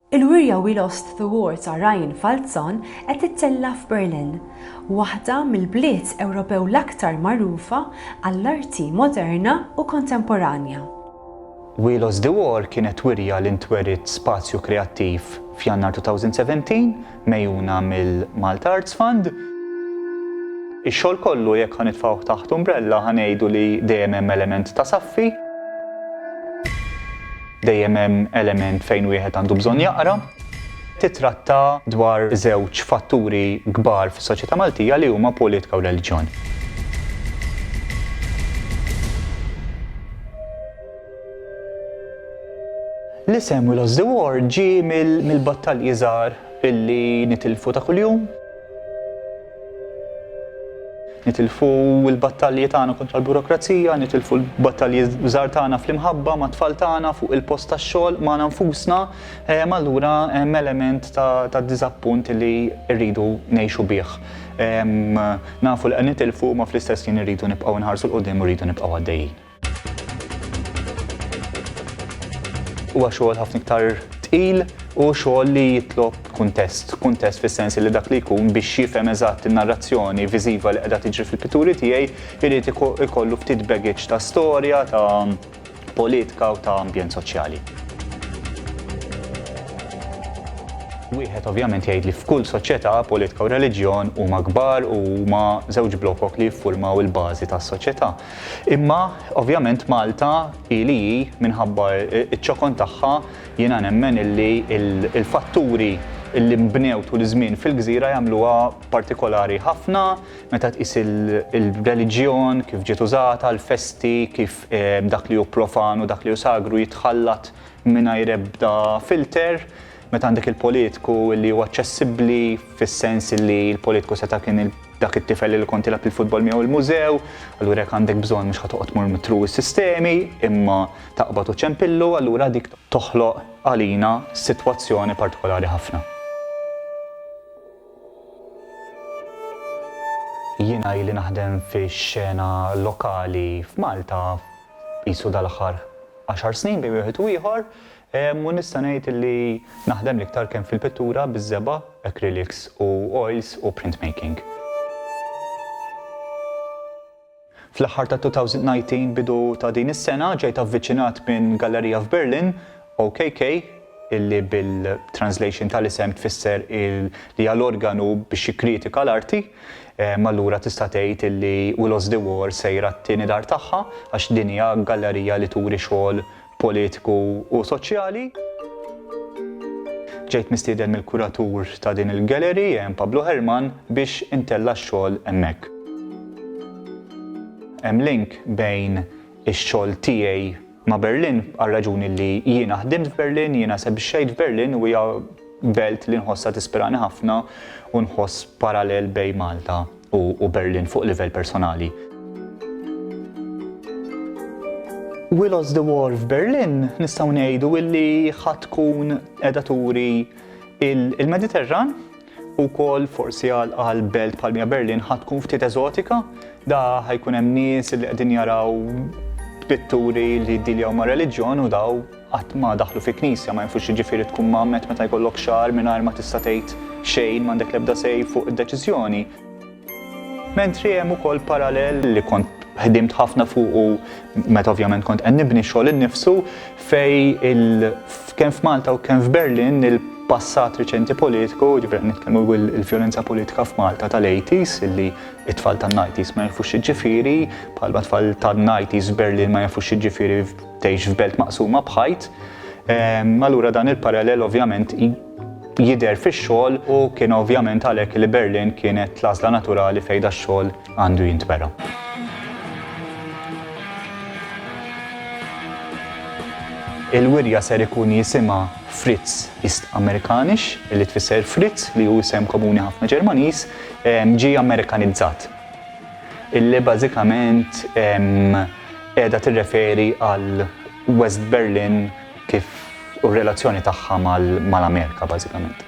Il-wirja We Lost the War ta' Ryan Falzon qed tittella' f'Berlin, waħda mill-bliet Ewropew l-aktar magħrufa għall-arti moderna u kontemporanja. We Lost the War kienet wirja li ntweriet Spazju Kreattiv f'Jannar 2017, megħjuna mill-Malta Arts Fund. Ix-xogħol kollu jekk ħa nitfgħuh taħt umbrella ħa ngħidu li dejjem hemm element ta' saffi, dejjem hemm element fejn wieħed għandu bżonn jaqra, titratta dwar żewġ fatturi kbar fis-soċjetà Maltija li huma politika u reliġjon. L-isem We Lost the War ġie mill-battalji żgħar illi nitilfu ta' kuljum. Nitilfu l-battalji tagħna kontra l-burokrazija, nitilfu l-battalji żgħar tagħna fl-imħabba ma' tfal tagħna fuq il-post tax-xogħol ma' nfusna, ehm, allura hemm element ta' diżappunt li rridu ngħixu bih. Ehm, nafu li qed nitilfu ma fl-istess jien irridu nibqgħu nħarsu l-qudiem u rridu nibqgħu għaddejjin. Huwa xogħol ħafna iktar tqil u xogħol li jitlob kuntest. Kuntest fis-sens li dak li jkun biex jifhem eżatt in-narrazzjoni viżiva li qiegħda tiġri fil-pitturi tiegħi jrid ikollu ftit baggage ta' storja, ta' politika u ta' ambjent soċjali. Wieħed ovvjament jgħid li f'kull soċjetà politika u reliġjon huma kbar u huma żewġ blokok li jiffurmaw il-bażi tas-soċjetà. Imma, ovvjament Malta hi li hi minħabba ċ-ċokon tagħha, jiena nemmen illi l-fatturi illi nbnew tul iż-żmien fil-gżira jagħmluha partikolari ħafna, meta tqis il-reliġjon, kif ġiet użata, l-festi, kif dak li hu profan u dak li hu sagru jitħallat mingħajr ebda filter, meta għandek il-politku illi hu aċċessibbli fis-sens illi l-politku seta' kien dak it-tifel li kont tilab il-futbol miegħu il-mużew, allura jekk għandek bżonn mhux ħatoqgħod tmur mitru s-sistemi, imma taqbad u ċempillu, allura dik toħloq għalina sitwazzjoni partikolari ħafna. Jiena ili naħdem fix-xena lokali f'Malta qisu dal-aħħar 10 snin bejn wieħed u ieħor, U nista' ngħid li naħdem l-iktar kemm fil-pittura biż-żebgħa, acrylics u oils u printmaking. Fl-aħħar tat-2019, bidu ta' din is-sena, ġejt avviċinat minn gallerija f'Berlin, OKK, illi bil-translation tal-isem tfisser li hija l-organu biex jikkritika l-arti, allura tista' tgħid illi We Lost the War sejra t-tieni dar tagħha għax din hija gallerija li turi xogħol politiku u soċjali. Ġejt mistieden mill-kuratur ta' din il-gallery, Jan Pablo Herman, biex intella' x-xogħol hemmhekk. Hemm link bejn ix-xogħol tiegħi ma' Berlin għar-raġuni li jiena ħdimt f'Berlin, jiena esebixxejt f'Berlin u hija belt li nħossha tispirani ħafna u nħoss parallel bejn Malta u Berlin fuq livell personali. We Lost the War f'Berlin nistgħu ngħidu illi ħa tkun qiegħda turi il-Mediterran u kol forsi għal belt palmija Berlin ħa tkun ftit eżotika da ħajkun hemm nies li qegħdin jaraw pitturi li diljaw ma' reliġjon u daw qatt ma daħlu fi knisja ma jafu x'jiġifieri tkun mgħammed meta jkollok xagħar mingħajr ma tista' tgħid xejn m'għandek l-ebda say fuq id-deċiżjoni. Mentri hemm ukoll parallel li kont ħdimt ħafna fuqu meta ovvjament kont qed nibni xogħol innifsu fej il kemm f'Malta u kemm f'Berlin il passat riċenti politiku, ġifir nitkellmu il-violenza politika f'Malta tal-80s, illi it-tfal tan-90s ma jafux ġifiri, bħalma tfal tan-90s Berlin ma jafux ġifiri tgħix f'belt maqsuma b'ħajt, ehm, allura dan il-parallel ovvjament jidher fix-xogħol u kien ovvjament għalhekk li Berlin kienet l-għażla naturali fejn da xogħol għandu jintwera. Il-wirja ser ikun jisima Fritz East Amerikanix, li tfisser Fritz li hu isem komuni ħafna Ġermaniż, ġi Amerikanizzat. Illi bażikament qiegħda tirreferi għal West Berlin kif u r-relazzjoni tagħha mal-Amerika bażikament.